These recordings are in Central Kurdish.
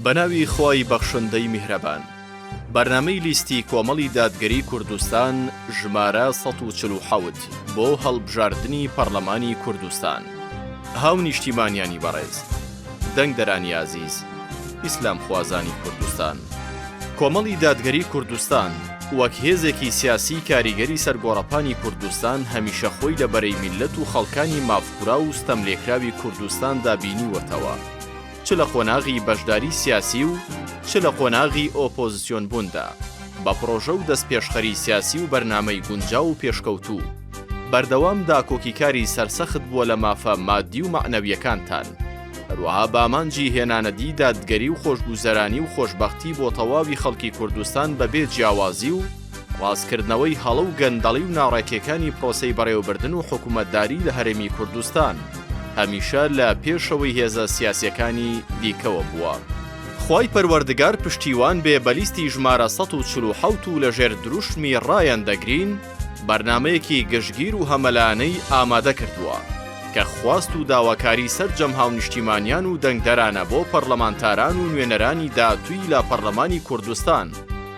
بەناوی خوای بەخشندەی میهرەبان. بەرنامەی لیستی کۆمەڵی دادگەری کوردستان ژمارە سەد و چل و حەوت بۆ هەڵبژاردنی پەڕلەمانی کوردستان. هاونیشتیمانیانی بەڕێز. دەنگدەرانی ئازیز. ئیسلامخوازانی کوردستان. کۆمەڵی دادگەری کوردستان وەک هێزێکی سیاسی کاریگەری سەر گۆڕەپانی کوردستان هەمیشە خۆی لە بەرەی میللەت و خەڵکانی مافخوراو و ستەملێکراوی کوردستاندا بینیوەتەوە. چ لە قۆناغی بەشداری سیاسی و چ لە قۆناغی ئۆپۆزسیۆن بووندا، بە پڕۆژە و دەستپێشخەری سیاسی و بەرنامەی گونجاو و پێشکەوتوو، بەردەوام داکۆکیکاری سەرسەخت بووە لە مافە مادی و مەعنەویەکانتان، هەروەها بامانجی هێنانەدی دادگەری و خۆشگوزەرانی و خۆشبەختی بۆ تەواوی خەڵکی کوردستان بەبێ جیاوازی و، ڕاستکردنەوەی هەڵە و گەندەڵی و ناڕێکیەکانی پرۆسەی بەڕێوەبردن و حکومەتداری لە هەرێمی کوردستان، هەمیشە لە پێشەوەی هێزە سیاسیەکانی دیکەوە بووە. خوای پەروەردگار پشتیوان بێ بە لیستی ژمارە سەد و چل و حەوت و لە ژێر دروشمی ڕایان دەگرین بەرنامەیەکی گشتگیر و هەمەلایەنەی ئامادە کردووە کە خواست و داواکاری سەرجەم هاونیشتیمانیان و دەنگدەرانە بۆ پەڕلەمانتاران و نوێنەرانی داهتووی لە پەڕلەمانی کوردستان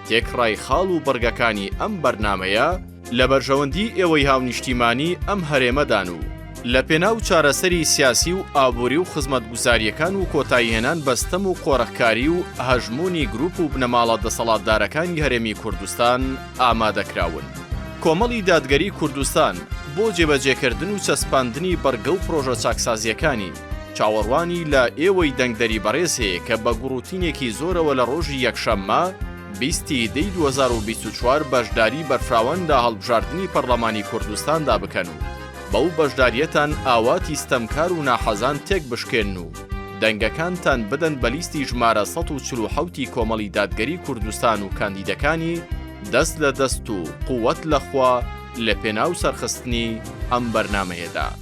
تێکڕای خاڵ و بڕگەکانی ئەم بەرنامەیە لە بەرژەوەندی ئێوەی هاونیشتیمانی ئەم هەرێمەدان و لە پێناو چارەسەری سیاسی و ئابووری و خزمەتگوزارییەکان و کۆتاییهێنان بە ستەم و قۆرخکاری و هەژموونی گروپ و بنەماڵە دەسەڵاتدارەکانی هەرێمی کوردستان ئامادەکراون. کۆمەڵی دادگەری کوردستان بۆ جێبەجێکردن و چەسپاندنی بڕگە و پڕۆژە چاکسازییەکانی، چاوەڕوانی لە ئێوەی دەنگدەری بەڕێز هەیە کە بە گوڕوتینێکی زۆرەوە لە ڕۆژی یەکشەممە، بیست ی دەی دوو هەزار و بیست و چوار بەشداری بەرفراوان لە هەڵبژاردنی پەڕڵەمانی کوردستاندا بکەن و بەو بەشدارییەتان ئاواتی ستەمکار و ناحەزان تێک بشکێنن و دەنگەکانتان بدەن بە لیستی ژمارە سەد و چل و حەوت ی کۆمەڵی دادگەری کوردستان و کاندیدەکانی، دەست لە دەست و قوت لە خوا لە پێناو سەرخستنی ئەم بەرنامەیەدا.